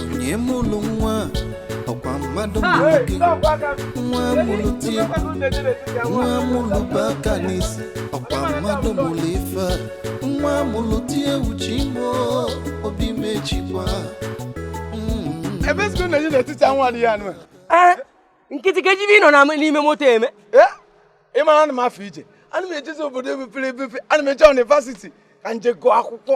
onye mụrụ nwa ọkwa mmadụ mụrụ gị nwa mụrụ tie nwa mụrụ bụ aka n'isi ọkwa mmadụ mụrụ ife nwa mụrụ tie uche imo obi mechikwa Mm. ebe skuul na-eje n'etiti anwụ adịghị anụ a. Ee, nkịtị ka ejibe ịnọ na n'ime moto eme Ee, ị mara ana m afọ ije ana m ejezi obodo mepere emepe ana m eje yunivasiti ka nje gụọ akwụkwọ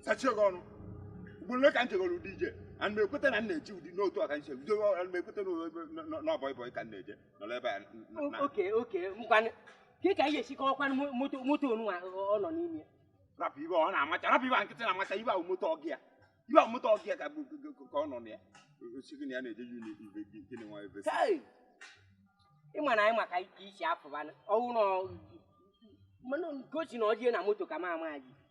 sachie gị ọnụ ugboro ole ka m jegoro ụdị ije ana m ekweta na m na-eji ụdị n'otu ọka nche bido ana m ekweta n'ọbọị bọị ka m na-eje nọrọ ebe a n- n- O- na- oke oke ngwanụ ka ka anyị ga-esi kọwakwanụ mo- moto moto onunwa ọ nọ n'ime ya rapụ ibe ọ na-amacha rapụ ibe a nkịtị na-amacha ibe ahụ moto ọga ya ibe ahụ moto ọga ya ka bụ- ka- ka- ka ọ nọ na ya ọ sị gị na ya na-eje yun ibe gị nke na-enwe ebe si. Hey! ị ma na anyị maka ike isi afụbanụ ọwụ na ọ- mana gosi na ọ jee na moto ka m ama ya ji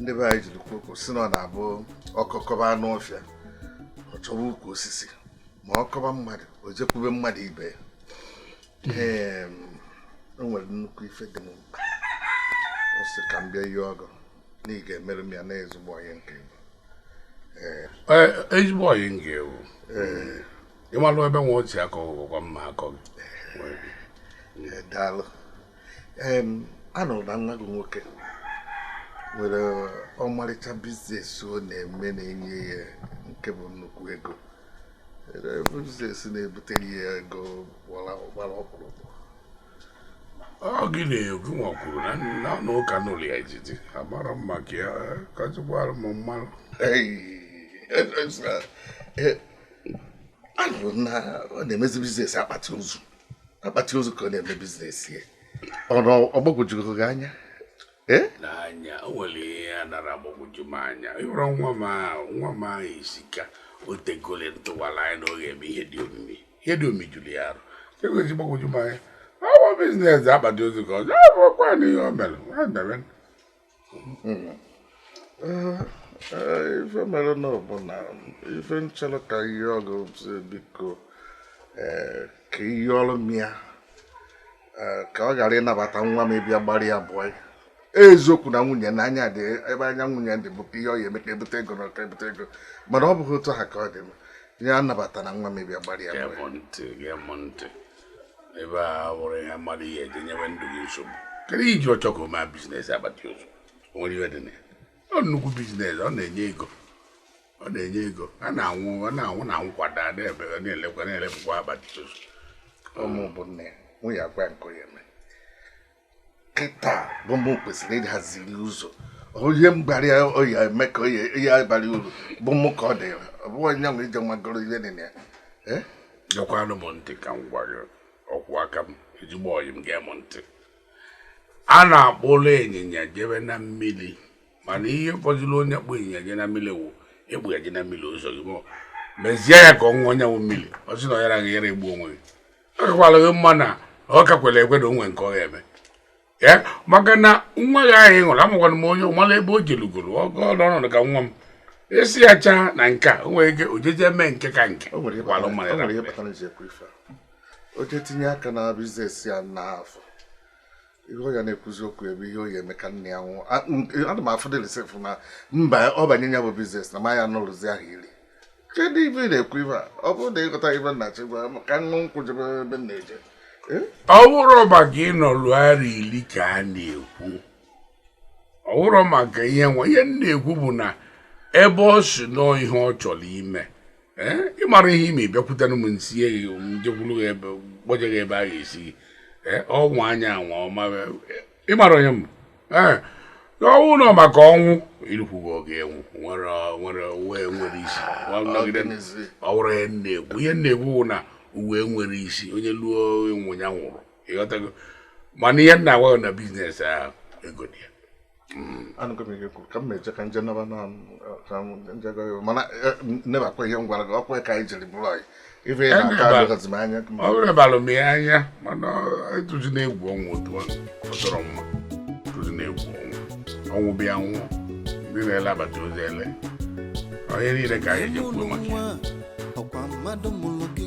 ndị be anyị jiri kwuo si na ọ na-abụ ọkọ kọba anụ ọfịa ọ chọba ukwu osisi ma ọ kọba mmadụ o jekwube mmadụ ibe ya o nwere nnukwu ife dị m mkpa ọ sị ka m bịa yọọ gị na ị ga-emere m ya na ezigbo onye nke m ezigbo ọyị m ka ị wụ ị malụ ebe nwa otu akọ ụgwọ mma akọ gị daalụ anụrụ na nwa gị nwoke nwere ọmarịcha biznes ọ na-eme na-enye ya nke bụ nnukwu ego biznes na-ebutere ya ego gbara ọkpụrụkpụ ọ gị na-ekwu nwa kwuru na na ụka n'ụlọ ya ejiji amara mma ka ya kọjụkwara m mmanụ anụrụ na ọ na-emezi biznes akpati ozu akpati ozu ka ọ na-eme biznes ya ọnụ ọ gbagwojugo gị anya eh? n'anya o nwere ihe a nara agbagwoju m anya ị hụrụ nwa m ahụ nwa m ahụ isika o tegole ntụwara anya na ọ ga-eme ihe dị omimi ihe dị omimi juru ya arụ egoji gbagwoju m anya ọ wụ biznes akpati ozu ka ọ ọkwa na ihe o mere ife mere na ọ bụ na ife nchọrọ ka m yọọ gị sị biko ka ị yọọrọ m ya ka ọ ghara ịnabata nwa m ịbịa gbara ya bọị eziokwu na nwunye na anya dị ebe anya nwunye dị bụ ihe ọ ya eme ka e bute ego na ọ ka e bute ego mana ọ bụghị otu a ka ọ dị m ya anabatana nwa m ịbịa gbara ya bọị ebe a wụrụ ihe mmadụ ihe eji nyewe ndụ gị nsogbu kedu i ji achọ ka o mee biznes akpati ozu o nwere ihe dị na ya ọ nnukwu biznes ọ na-enye ego ọ na-enye ego a na-anwụ ọ na-anwụ na nkwado a na-ebe na-elekwa na-elepụkwa akpati ozu ụmụ bụ nne ya nwunye agwa nke onye mee kịta bụ mụ kwesịrị ịhaziri ụzọ onye mgbari ọ ya-eme ka ọ ya-abara uru bụ mụ ka ọ dịrị ọ bụghị onye nwere ije magoro ihe dị na ya gekwanụ m ntị ka m gwa gị okwu aka m ezigbo ọyị m gee m ntị a na-akpụrụ ịnyịnya jebe na mmiri mana ihe fọdụrụ onye kpụ ịnyịnya je na mmiri wụ a kpụ ya je na mmiri ụzọ gị mezie ya ka ọ ṅụọ onye wụ mmiri ọ sị na ọ yara gị yara egbu onwe gị akakwala gị mma na ọ ka kwere ekwe na o nwe nke ọ ga-eme ee maka na nwa gị ahụ ị hụrụ amakwana m onye ọmala ebe o jelugoro ọgọ ọnọdụ ka nwa m esi ya chaa na nke a o nwere ike o jeje mee nke ka nke o nwere ihe kwalụ mmadụ kpatara- o nwere ihe rapụrụ ya. kpatara m ji ekwu ife a. o jee tinye aka na biznes ya n'afọ ihe ọ ya na-ekwuzi okwu ebe ihe ọ ya-eme ka nne ya nwụọ ana m afụ dịlisif na mba ọ banye ya bụ biznes na m ya-anọlụzi ahọ iri kedu ive ị na-ekwu ive a ọ bụrụ na ị ghọta ive m na-achọ ịgwa ka ṅụ nkwụ jebe ebe m na-eje eh? ọ bụrụ maka ịnọlụ arọ iri ka a na-ekwu ọ bụrụ maka ihe nwa ihe m na-ekwu bụ na ebe ọ si nọọ ihe ọ chọrọ ime ị mara ihe ime bịakwutenụ m m sie gị m jekwuru gị ebe kpọje gị ebe a ga-esi gị ọnwa anya anwa ọma ị mara onye m ọnwụ nọ maka ọnwụ irukwugo oge enwu nwere nwere ụwa nwere isi ọ bụrụ ihe na-ekwu ihe na-ekwu bụ na ụwa nwere isi onye luo ịnwụ ya nwụrụ ị ghọtago mana ihe m na-agwa gị na biznes ahụ ego dị ya anụgo m ihe i kwuru ka m meje ka m je naba na m jego mana eh, nebakwa ihe m gwara gị ọ kwa ka anyị jiri bụrụ enyi ife ị na-aka Eneba. adịghịzi m anya ọ bụrụ ịbalụ m ya anya mana atụzina egwu ọnwụ otu ọ fọtọrọ mma atụzina egwu ọnwụ ọnwụ bịa nwụọ ndị na-elabata ozi ele onye niile ka anyị ji kwuo maka ya. ọ kwa mmadụ mụrụ gị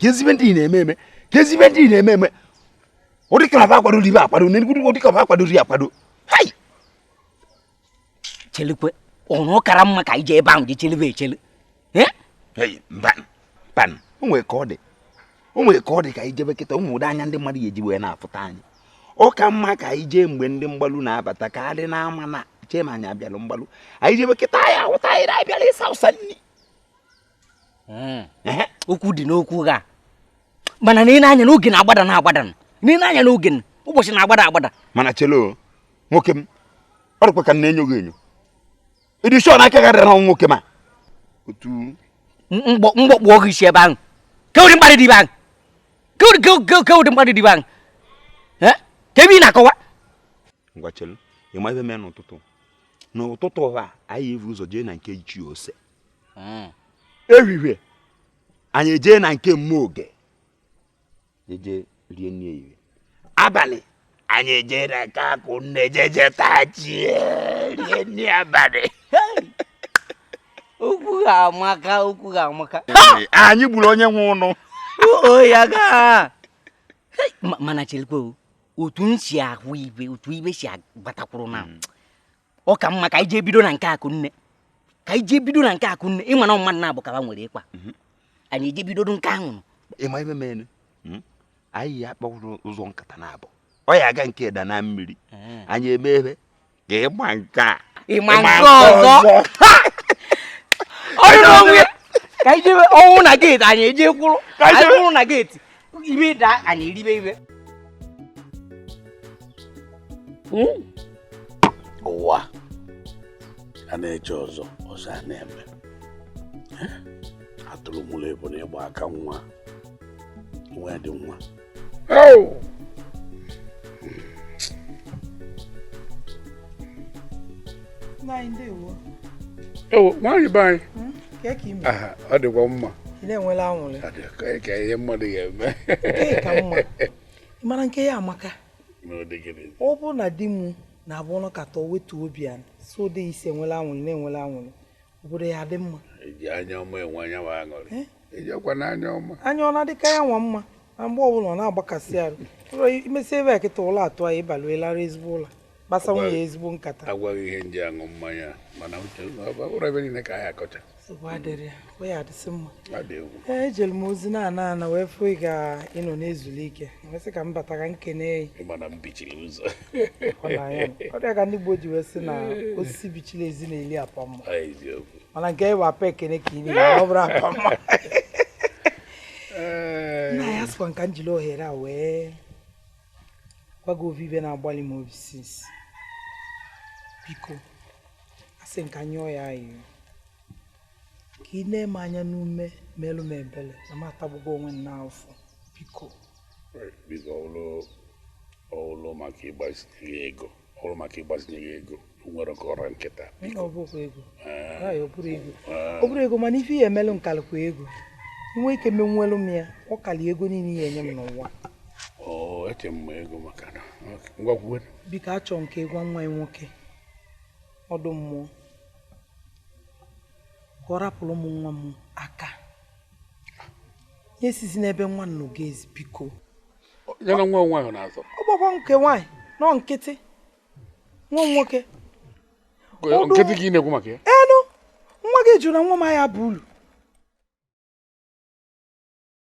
kezi ive ndị na-eme eme kezi ive ndị na-eme eme ọ dị ka ba akwadoro ibe akwado na enugu ọ dị ka ba akwadoro ya akwado hai chelekwe ọrụ kara mma ka anyị je ebe ahụ gị chelebe echele mba mba o nwere ka ọ dị o nwere ka ọ dị ka anyị jebe kịta ị ma ụdị anya ndị mmadụ ga-eji wee na-afụta anyị ọ ka mma ka anyị jee mgbe ndị mgbalu na-abata ka adị na-ama na chee ma anyị abịalụ mgbalu anyị jebe kịta a ya-ahụta anyị na-abịala ịsa ụsa nri okwu dị n'okwu gị a mana na i ne anya n'oge na-agbada na-agbada na i ne anya n'oge ụbọchị na-agbada agbada mana chelo nwoke m ọ dịkwa ka m na-enyo gị enyo ị dị sure na aka gị adịrọ n'ọnwụ nwoke m a otu mgbọ kpọọ gị isi ebe ahụ kee ụdị mkparị dị ive ahụ kee ụdị mkparị dị ive ahụ kee ive ị na-akọwa ngwa chelo ị ma ive mee n'ụtụtụ n'ụtụtụ a anyị evu ụzọ jee na nke ichie ose hmm. ehihie anyị ejee na nke Mmoge eje rie nri ehihie abalị anyị ejee na nke Akụnne jeje tachie rie nri abalị ukwu ga-amaka ukwu ga-amaka anyị gburu onye nwe ụnụ ya gaa mana cherekwa otu m si ahụ ive otu ive si agbatakwuru na hmm. ọ ka mma ka anyị jee bido na nke Akụnne ka anyị jee bido na nke Akụnne ị ma na mmadụ naabọ ka ba nwere ịkwa mhm. anyị eje bidodu nke ahụ ị ma ive menụ hmm? anyị ya-akpa ụzọ nkata naabọ ọ ya-aga nke da na mmiri eh. anyị eme ebe ka ịgba nke a ịma nke ọzọ ọrụ n'onwe ka anyị jebe ọnwụ na geeti anyị eje kwụrụ anyị kwụrụ na geeti ive daa anyị eribe ive hmm? ụwa a na-eche ọzọ ọzọ a na-eme atụrụ mụrụ ebunu gba aka nwa nwa dị nwa ewo nwaanyị be anyị hmm? ọ dịkwa mma na-enwela anwụrị ka ihe mmadụ ga-eme ka mma mara nke ya amaka ọ bụrụ na di m na-abụ ọ nọkata wetu obi ya so dị isi enwela anwụrị na-enwela anwụrị obodo ya-adị mma eji anya ọma enwe anya ma aṅụrị eh? ejekwa na anya ọma anya ọ na-adịka ya nwa mma na mgbe ọbụla ọ na-agbakasị arụ ụlọ i mesi ive a kịta ụla atụ anyị ị baa larụ ezigbo ụla kpasa nwunye ezigbo nkata agwa gị ihe m ji aṅụ mmanya mana uche ụra ive niile ka anyị akọcha nsogbu adịrọ ya ọ ya-adịsị mma ejere m ozi na-ana ana wee fụ ị ka ị nọ na-ezulu ike sị ka m bata ka m kene ị maka na i bichiri ụzọ ọ dị ka ndị Igbo ji wee sị na osisi bichiri ezi na-eli apa mma mana nke ị bụ apa ekene ka ị na-eri ọ bụrọ apa mma nna anyị asịkwa m ka m jiri ohere a wee gwa gị ovu ive na-agbalụ m obi since biko asị m ka m yọọ ị ayịyọ ka i nee m anya n'ume melụ m ebele na m atagbugo onwe m n'afụfụ biko biko ọ wụlụ maka ịgbazinye ego ọ wụlụ maka ịgbazinye gị ego nwerọ ka ọ ra m kịta ọ bụrọ ego ọ bụrọ ego mana ife ị ya-emelụ m kalịkwa ego ị nwee ike menwelu m ya ọ kalị ego niile ị ya-enye m n'ụwa eche m ego maka na ngwakwuwe biko achọ m ka ị gwa nwa ị nwoke ọdụ mmụọ ka ọ rapụrụ mụ nwa m aka esizi n'ebe nwa nọ ga-ezi biko ya na nwa nwaanyị na-azọ ọ gbakwa nke nwaanyị nọ nkịtị nwa nwoke nkịtị ka ị na-ekwu maka ya enu nwa gị jụrụ na nwa m ya bụ ulu